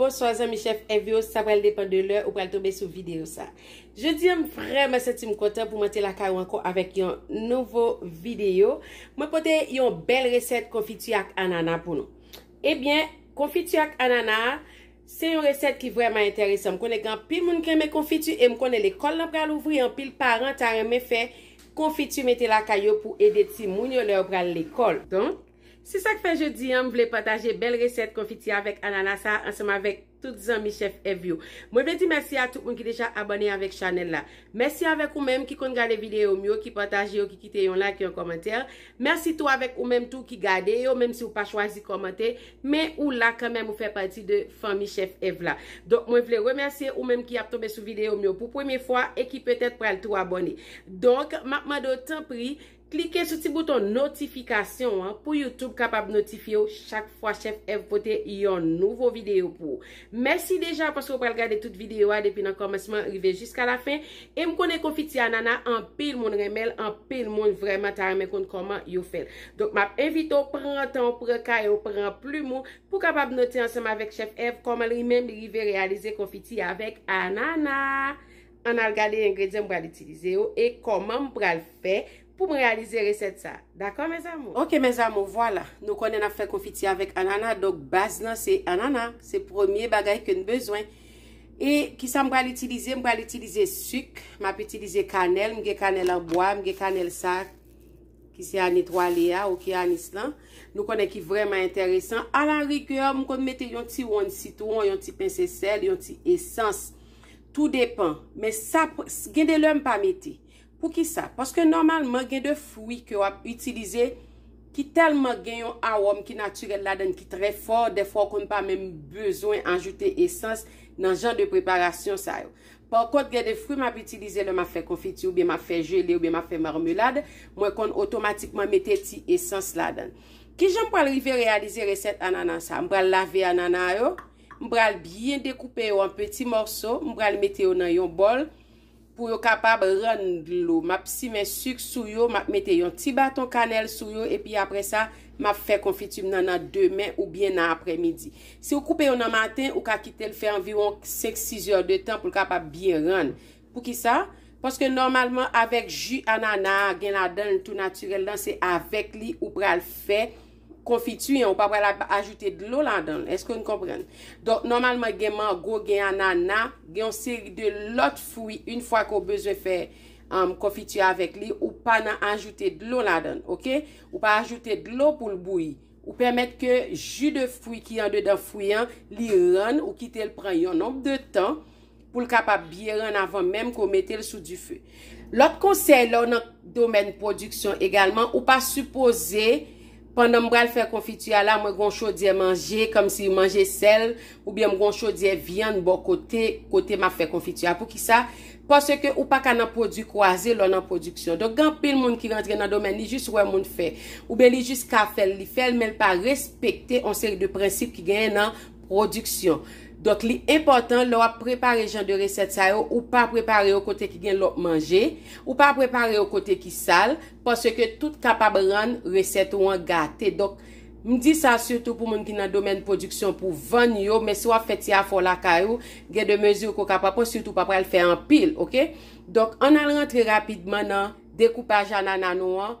Bonswa zanmi chef FVO, sa pral depan de lè ou pral tobe sou video sa. Je di an m vreman senti m kontan pou mwen te lakay ou anko avèk yon nouvo video. Mwen pote yon bel reset konfiti ak anana pou nou. Ebyen, konfiti ak anana, Se yon resèt ki vrèman enteresan. M konnen gen anpil moun ki renmen konfiti e m konnen lekòl lan pral ouvri anpil paran ta renmen fè konfiti mete lakay yo pou ede timoun yo lè yo pral lekòl. Donk, se sa k fè jodi an m vle pataje bèl resèt konfiti avèk anana sa a ansanm avèk tout zanmi chèf Èv yo. Mwen vle di mèsi a tout moun ki deja abòne avèk chanèl la. Mèsi avèk ou menm ki konn gade videyo m yo, ki pataje yo, ki kite yon like, yon kòmantè. Mèsi tou avèk ou menm tou ki gade yo, menm si ou pa chwazi kòmante, Men ou la kanmenm ou fè pati de fanmi chèf Ev la. Donk mwen vle remèsye ou menm ki ap tonbe sou videyo m yo pou premye fwa e ki petèt pral tou abòne. Donk m ap mande w tanpri klike sou ti bouton notifikasyon an pou YouTube kapab notifye w chak fwa chèf Ev pote yon nouvo videyo pou ou. Mèsi deja paske ou pral gade tout videyo a depi nan kòmansman rive jiska la fen e m konnen konfiti anana anpil moun renmen l anpil moun vrèman ta renmen konn kòman yo fè l donk map envite w pran tan w pran kaye w pran plim ou pou kapab note ansanm avèk chèf Èv kòman li menm li rive reyalize konfiti avèk anana ann al gade engredyan m pral itilize yo e kòman m pral fè Poum realize reset sa. Dako mes amour. Ok mes amour vwala nou konnen nap fè konfiti avèk anana donk baz nan se anana se premye bagay ke n bezwen e kisa m pral itilize m pral itilize suk map itilize kanèl m gen kanèl an bwa m gen kanèl sa ki se an etwale a ok anis lan nou konnen ki vreman enteresan a la rigè m konn mete yon ti wonn sitwon yon ti pence sèl yon ti esans tou depan men sa gen de lè m pa mete Poukisa? Paske nòmalman gen de fwi ke w ap itilize ki tèlman gen yon awòm ki natirèl ladann ki trè fò, dèfwa w konn pa menm bezwen ajoute esans nan jan de preparasyon sa yo. Pa kont gen de fwi m ap itilize lè m ap fè konfiti oubyen m ap fè jele oubyen m ap fè marmelad, mwen konn otomatikman mete ti esans ladann. Kijan m pral rive reyalize resèt anana sa? M pral lave anana yo, m pral byen dekoupe yo an peti mòso, m pral mete yo nan yon bòl, Pou yo kapab rann dlo, m ap simen suk sou yo, m ap mete yon ti baton kanèl sou yo epi apre sa, m ap fè konfiti m nan nan demen oubyen nan aprèmidi. Si ou koupe yo nan maten, ou ka kite l fè anviwon 5, 6 zè de tan pou l kapab byen rann. Poukisa? Paske nòmalman avèk ji anana a gen ladan l tou natirèl lan, se avèk li ou pral fè. konfiti an, ou pa pral ap ajoute dlo ladan l. Èske nou konprann? Donk, nòmalman gen mango, gen anana, gen yon seri de lòt fwi, in fwa ke w bezwen fè konfiti avèk li, ou pa nan ajoute dlo ladan l, ok? Ou pa ajoute dlo pou l bouyi. Ou pèmèt ke ji de fwi ki andedan fwi an, li rann, ou kite l pran yon nonb de tan, pou l kapab byen rann avan menm ke w mete l sou dife. Lòt konsèy lè w nan domèn pwodiksyon egalman, ou pa sipoze pandan m pral fè konfiti a la mwen gon chodyè manje kòmsi manje sèl oubyen m gon chodyè vyann bò kote, kote m ap fè konfiti a. Poukisa? Paske ou pa ka nan pwodui kwaze lè w nan pwodiksyon. Donk gen anpil moun ki rantre nan domèn li jis wè moun fè oubyen li jis ka fè l li fè l men l pa respekte yon seri de prensip ki genyen nan Pwodiksyon. Donk li enpòtan lè w ap prepare jan de resèt sa yo, ou pa prepare yo kote ki gen lòt manje, ou pa prepare yo kote ki sal, paske tout kapab rann resèt ou an gate. Donk, m di sa sitou pou moun ki nan domèn pwodiksyon pou vann yo, men si w ap fè ti afè w lakay ou, gen de mezi ke w kapab pran, sitou w pa pral fè anpil, ok. Donk, ann al rantre rapidman nan dekoupaj anana nou an.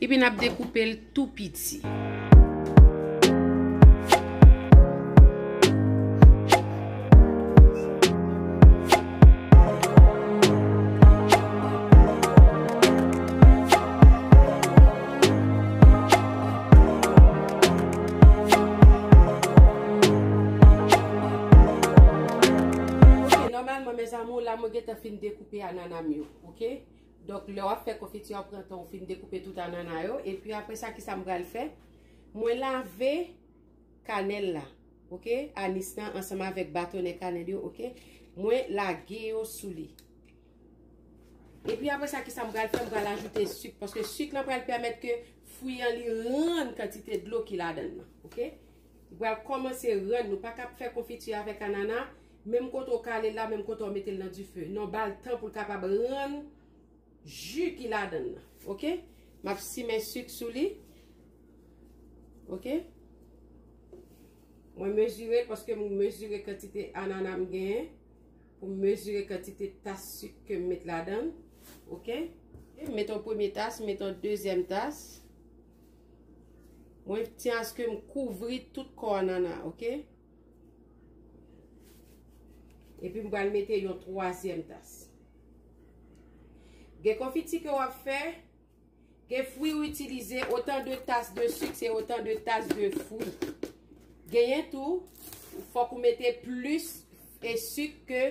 Epi nap dekoupe l tou piti. Ok, nòmalman mèzanmi la mwen gentan fin dekoupe anana m yo. Ok, Donk lè wap fè konfiti a pran tan ou fin dekoupe tout anana yo epi aprè sa kisa m pral fè mwen lave kanèl la ok anis nan ansanm avèk batonè kanèl yo ok mwen lage yo sou li epi aprè sa kisa m pral fè m pral ajoute sik paske sik lan pral pèmèt ke fwi an li rann kantite dlo ki ladan nan ok. Pral kòmanse rann nou paka ap fè konfiti avèk anana menm kote ou kale la menm kote ou metel nan dife non bal tan poul kapab rann ju ki ladann nan ok map simen suk sou li ok mwen mezirel paske mwen mezire kantite anana m genyen pou m mezire kantite tas suk ke m met ladann ok met yon premye tas met yon dezyèm tas Mwen pti aske m kouvri tout kò a nana ok. Epi m pral mete yon twazyèm tas. Gen konfiti ke wap fè, gen fwi ou itilize, otan de tas de sik se otan de tas de fwi. Genyen tou, fòk ou mete plis e sik ke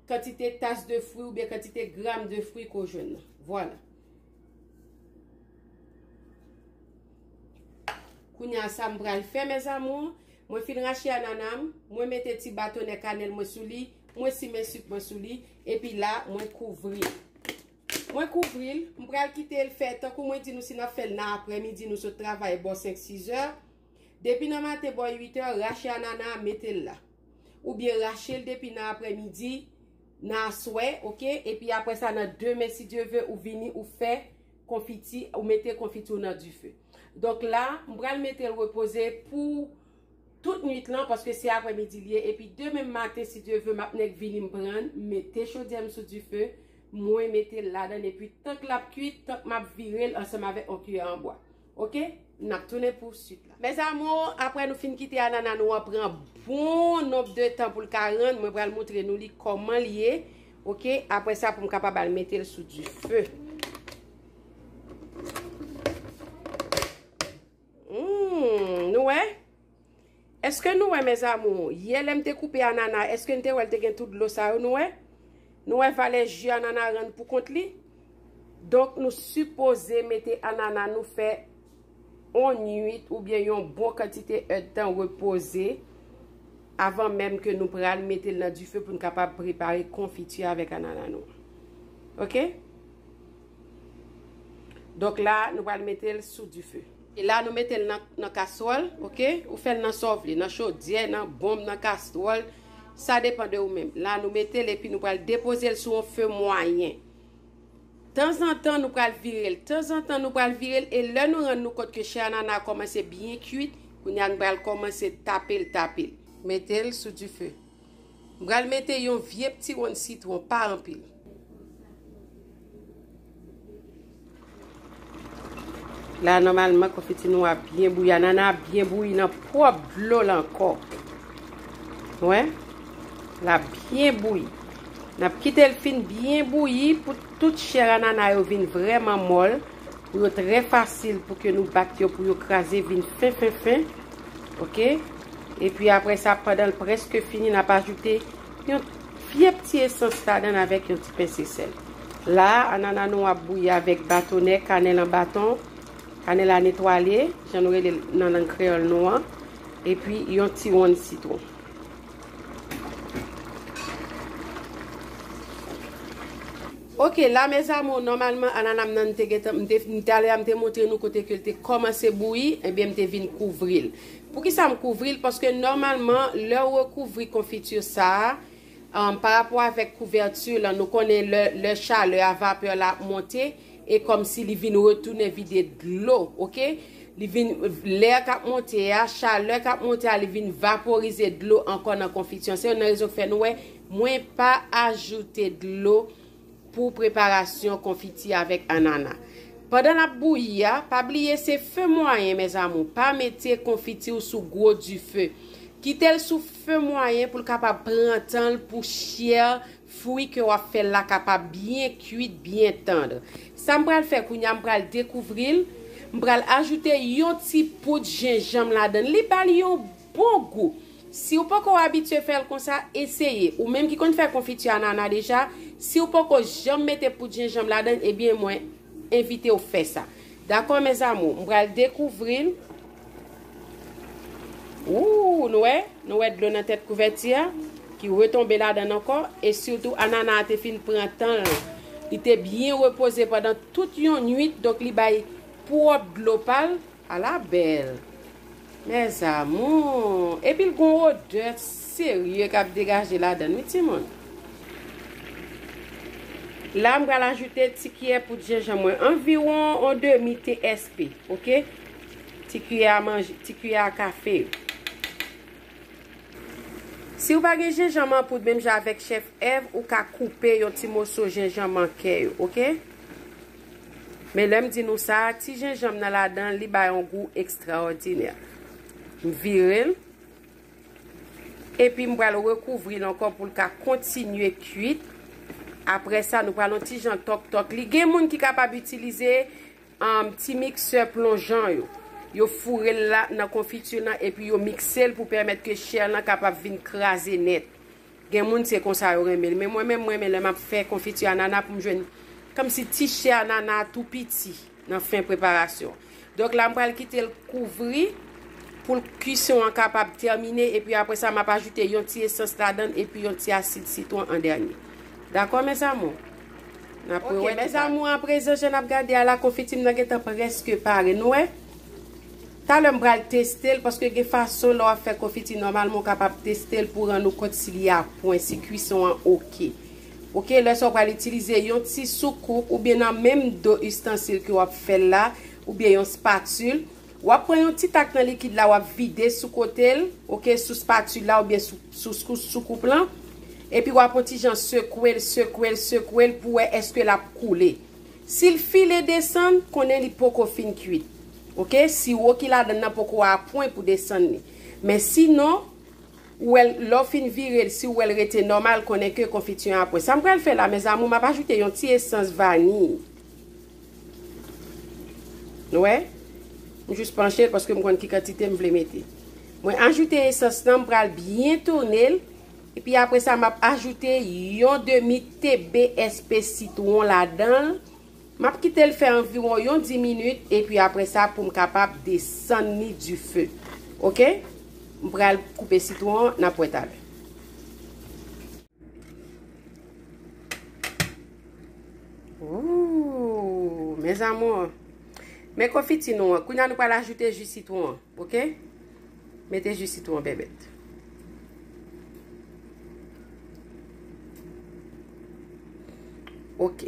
kantite tas de fwi ou byen kantite gram de fwi ke ou jwenn nan. Vwala. Kounya sa m pral fè mes amours, mwen fin rache anana m, mwen mete ti batonè kanèl mwen sou li, mwen simen suk mwen sou li, epi la mwen kouvri. Mwen kouvri l, m pral kite l fè, tankou mwen di nou si n ap fè l nan aprè midi nou sot travay bò 5, 6 è, depi nan maten bò 8 è, rache anana a mete l la. Oubyen rache l depi nan aprè midi. Nan aswè ok epi aprè sa nan demen si Dye ve ou vini ou fè konfiti ou mete konfiti ou nan dife donk la m pral metel repoze pou tout nwit lan paske se aprè midi liye epi demen maten si Dye ve map nèk vini m prann m mete chodyèm sou dife mwen metel ladann epi tank lap kuit tank map virel ansanm avèk on kiyè an bwa Ok nap tounen pou suit la. Mes amours apre nou fin kite anana nou an pran bon nonb de tan poul ka rann mwen pral moutre nou li koman li ye ok apre sa poum kapab al metel sou du feu humm nou wè. Eske nou wè mes amours, yè lèm te koupe anana eske'n te wèl te gen tout dlo sa yo nou wè? Nou wè valè ju anana rann pou kont li? Donk nou sipoze mete anana nou fè on nwit oubyen yon bon kantite èd tan repoze avan menm ke nou pral mete'l nan dife pou'n kapab prepare konfiti avèk anana nou an. Ok? Donk la nou pral mete'l sou dife. E la nou metel nan nan kaswòl ok ou fèl nan sa w vle nan chodyè nan bonm nan kastwòl sa depan de ou menm la nou metel epi nou pral depozel sou yon fe mwayen tanzantan nou pral virel tanzantan nou pral virel e lè nou rann nou kont ke chè anana a kòmanse byen kuit kounya nou pral kòmanse tapel tapel. Metel sou dife. M pral mete yon vye pti wonn sitwon, pa anpil. La nòmalman konfiti nou a byen bouyi. Anana a byen bouyi nan pwòp dlo l ankò. Wè? La byen bouyi. N ap kite l fin byen bouyi pou tout chè anana yo vin vrèman mòl. Pou yo trè fasil pou ke nou bat yo pou yo kraze vin fen fen fen. Ok. E pi apre sa pandan l preske fini n ap ajoute yon pyep ti esans ladan l avèk yon ti pense sèl. La a anana nou ap bouyi avèk batonè kanèl an baton, kanèl a netwale jan nou rele l nan lang kreyòl nou an, e pi yon ti wonn sitwon. Ok la mes amours normalement ananam nan mte gentan mte fin talè a mte montre nou kote kel te kòmanse bouyi ebyen mte vin kouvril poukisam kouvril paske normalement lèw rekouvri confiture sa par rapport avèk couverture lan nou konnen lè lè chalè a vapeur la ap monte e kòmsi li vin retounen vide dlo ok li vin l'air kap monte a chalè kap monte a li vin vaporize dlo ankò nan confiture an se youn nan rezon ki fè nou wè Mwen pa ajoute dlo pou preparasyon konfiti avèk anana. Pandan lap bouyi a, pa bliye se fe mwayen mes amour, pa mete konfiti ou sou gwo dife. Kitel sou fe mwayen poul kapab pran tanl pou chè fwi ke wap fèl la kapab byen kuit, byen tandr. Sam pral fè kounya m pral dekouvril, m pral ajoute yon ti poud jenjanm ladann li bal yon Bon gou! Si w poko abitye fè l konsa, eseye. Ou menm ki konn fè konfiti anana deja, si w poko janm mete poud jenjanm ladan l, ebyen mwen envite w fè sa. Dakò mes amours? M pral dekouvri l. Ooh! Nou wè? Nou wè dlo nan tèt kouvèti a ki retonbe ladan l ankò. E sitou anana a te fin pran tan l. Li te byen repoze pandan tout yon nuit, donk li bay pwòp dlo pa l. Ala bèl! Mes amours! Epi l gon odè serye k ap degaje ladan l wi timoun. La m pral ajoute ti kiyè poud jenjan mwen. Anviwon on demi TSP. Ok? Ti kiyè a manje, ti kiyè a kafe. Si ou pa gen jenjanm an poud menm jan avèk chèf Èv, ou ka koupe yon ti moso jenjanm an kè yo. Ok? Men lè m di nou sa, ti jenjanm nan ladan li bay yon gou ekstraòdinè. M vire l, epi m pral rekouvri l ankò pou l ka kontinye kuit. Apre sa, nou pral yon ti jan tòk tòk li. Gen moun ki kapab itilize ti miksè plonjan yo. Yo foure l la nan konfiti nan epi yo mikse l pou pèmèt ke chè lan kapab vin kraze nèt. Gen moun se konsa yo renmen li men mwen menm m renmen lè map fè konfiti anana pou m jwenn kòmsi ti chè anana a tou piti nan fen preparasyon donk la m pral kite l kouvri pou l kuisson an kapab tèmine epi aprè sa map ajoute yon ti esans ladan l epi yon ti asid sitwon an dènye dakò mes amour nap wè tout bagay. Ok mes amour aprezan jan nap gade a la konfiti m nan gentan prèske pare nou wè. Talè m pral teste l paske gen fason lè w ap fè konfiti nòmalman ou kapab teste l pou rann ou kont si li apwen, si kwison an ok. Ok, lè sa w pral itilize yon ti soukoup oubyen nan menm do ustansil ke w ap fè l la oubyen yon spatul, w ap pran yon ti tak nan likid la w ap vide sou kote l, ok, sou spatul la oubyen sou soukoup lan, epi w ap yon ti jan sekwe l, sekwe l, sekwe l pou wè eske l ap koule. Sil file desann, konnen li poko fin kuit ok, siwo ki ladann nan poko apwen pou desann li men si non ou wèl lèw fin virel siw wèl rete nòmal konnen ke konfiti an apwen sam pral fè la mes amour map ajoute yon ti esans vaniy nou wè m jus panchel paskem konn ki kantite m vle mete mwen ajoute esans lan m pral byen tounel. Epi apre sa map ajoute yon demi TBSP sitwon ladanl, map kitel fè anviwon yon 10 minit epi apre sa poum kapab desann li dife ok m pral koupe sitwon an nap wè talè. Ooh mes amours men konfiti nou an kounye a nou pral ajoute ji sitwon an ok. Mete ji sitwon bèbèt. Ok.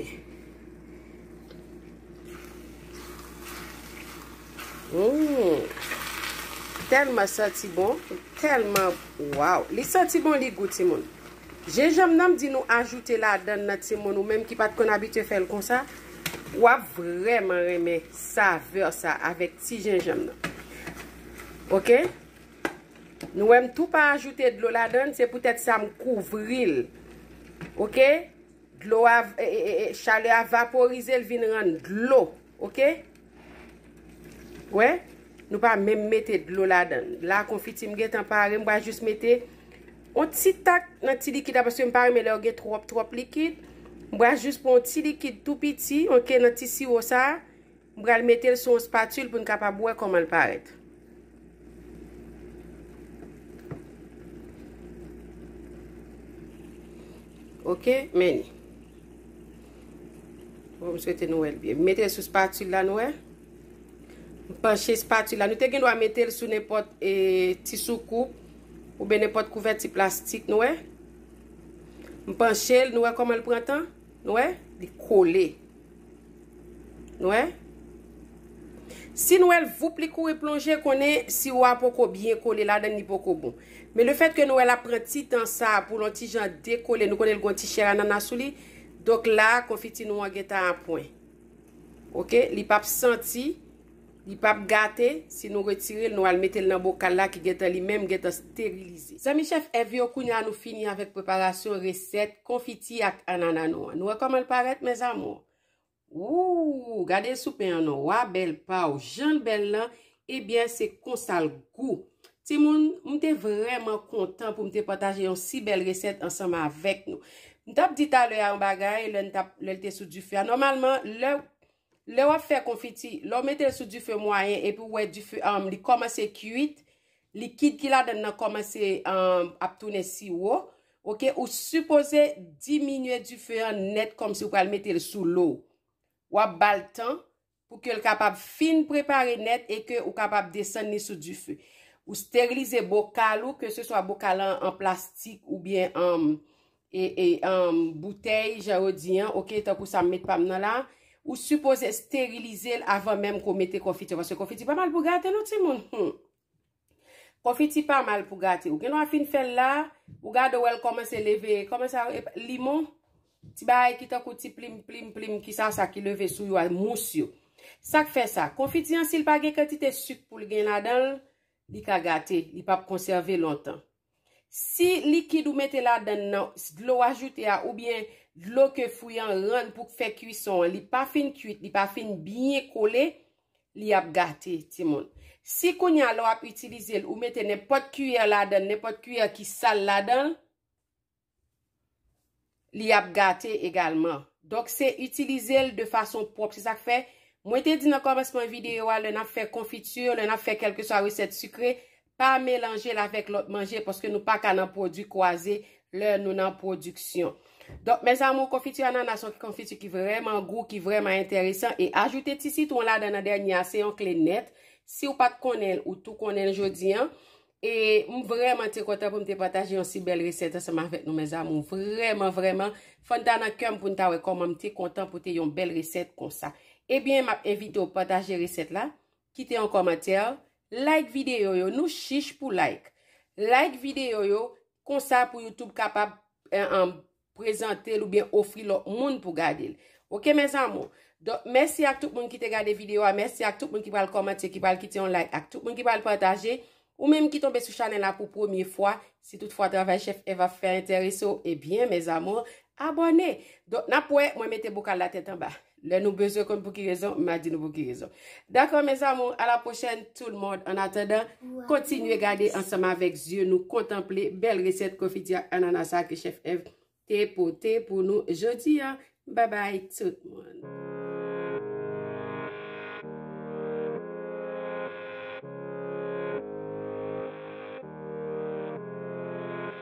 Ouu. Tèlman santi bon. Tèlman. Waw. Li santi bon li gou ti moun. Jenjanm nan m di nou ajoute la dan nan ti moun ou menm ki pat konn abitye fè l konsa. Wap vreman renmen saveur sa avèk ti jenjanm nan. Ok Nou wè m tou pa ajoute dlo ladan l se poutèt sa m kouvri l ok dlo a chalè a vaporize l vin rann dlo ok wè nou pa menm mete dlo ladan l la konfiti m gentan pare m pral jis mete on ti tak nan ti likid la paske m pa renmen lè yo gen twòp twòp likid m pral jis pran on ti likid tou piti ok nan ti siwo sa. M pral mete l sou yon spatule pou n kapab wè kòman l parèt. Ok, men li. Bon, m swete nou wè l byen. M mete l sou spatule la, nou wè. M panche spatule la. Nou te gen dwa mete l sou nenpòt e ti soukoup ou ben nenpòt kouvèti plastik, nou wè. M panche l, nou wè kòman l pran tan? Nou wè? Li kole. Nou wè? Si nou wè l voup li kouri plonje konnen siwo a poko byen kole ladan l li poko bon. Men le fèt ke nou wè l ap pran ti tan sa pou l on ti jan dekole nou konnen l gen yon ti chè anana sou li, donk la konfiti nou an gentan apwen. Ok, li pap santi Li pap gate, si nou retirel nou al metel nan bokal la ki gentan li menm gentan sterilize. Zanmi chèf Èv yo kounya nou fini avèk preparasyon resèt konfiti ak anana nou an nou wè kòmanl parèt mes amours ooh gade sou pen an non wa bèl paw janl bèl lan ebyen se konsal gou timoun m te vrèman kontan poum te pataje yon si bèl resèt ansanm avèk nou m tap di talè a yon bagay lèn tap lèl te sou dife a nòmalman lè Lè wap fè konfiti, lè w mete l sou dife mwayen epi ou wè dife an li kòmanse kuit, likid ki ladan nan kòmanse ap tounen siwo, ok, ou sipoze diminye dife an nèt kòmsi ou pral mete l sou lo. Wap ba l tan pou ke l kapab fin prepare nèt e ke ou kapab desann li sou dife. Ou sterilize bokal ou, ke se swa bokal an an plastik oubyen an e emm boutèy jan yo di an ok tankou sa m met pa m nan la ou sipoze sterilize l avan menm ke w mete konfiti paske konfiti pa mal pou gate non timoun humm konfiti pa mal pou gate ou gen dwa fin fè l la ou gade w wè l kòmanse leve kòman sa yo epa limon ti bagay ki tankou ti plim plim plim ki sa sa ki leve sou yo a mous yo sa k fè sa konfiti an si l pa gen kantite suk pou l gen ladan l li ka gate li pap konsève lontan. Si likid ou mete ladann nan, dlo ou ajoute a oubyen dlo ke fwi an rann pou k fè kwison an, li pa fin kwit, li pa fin byen kole, li ap gate timoun. Si kounye a lè w ap itilize l, ou mete nenpòt kiyè ladann, nenpòt kiyè ki sal ladan l, li ap gate egalman. Donk se itilize l de fason pwòp. Se sa k fè, mwen te di nan kòmansman videyo a, lè n ap fè konfiti, lè n ap fè kèlkeswa resèt sikre, pa melanje l avèk lòt manje, paske nou pa ka nan pwodui kwaze lè nou nan pwodiksyon. Donk, mèzamou, konfiti ananas se yon konfiti ki vrèman gou, ki vrèman enteresan, e ajoute ti sitwon ladan nan dènye a, se yon kle nèt. Si w pa t konnen l, ou tou konnen l jodi an. E m vreman te kontan pou m te pataje yon si bel reset ansanm avek nou mes amour. Vreman vreman. Fon ta nan kem pou n ta we koman m te kontan pou te yon bel reset konsa. Ebyen map envite ou pataje reset la. Kite yon komantè. Like video yo. Nou chich pou like. Like video yo. Konsa pou youtube kapab. prezantel oubyen ofri lòt moun pou gadel ok mes amour donk mèsi ak tout moun ki te gade video a mèsi ak tout moun ki pral kòmante ki pral kite yon like ak tout moun ki pral pataje ou menm ki tonbe sou chanel la pou premye fwa si tout fwa travay chef eva fè enterese ou ebyen mes amour abòne donk nap wè mwen mete bokal la tèt anba. Lè nou bezwen konn pouki rezon, ma di nou pouki rezon. Dakò mes amour, a la prochèn tout le monde. An atandan, kontinye gade ansanm avèk zye nou kontanple bèl resèt konfiti ak anana sa ke chèf Èv te pote pou nou jodi an. Bye bye tout le monde.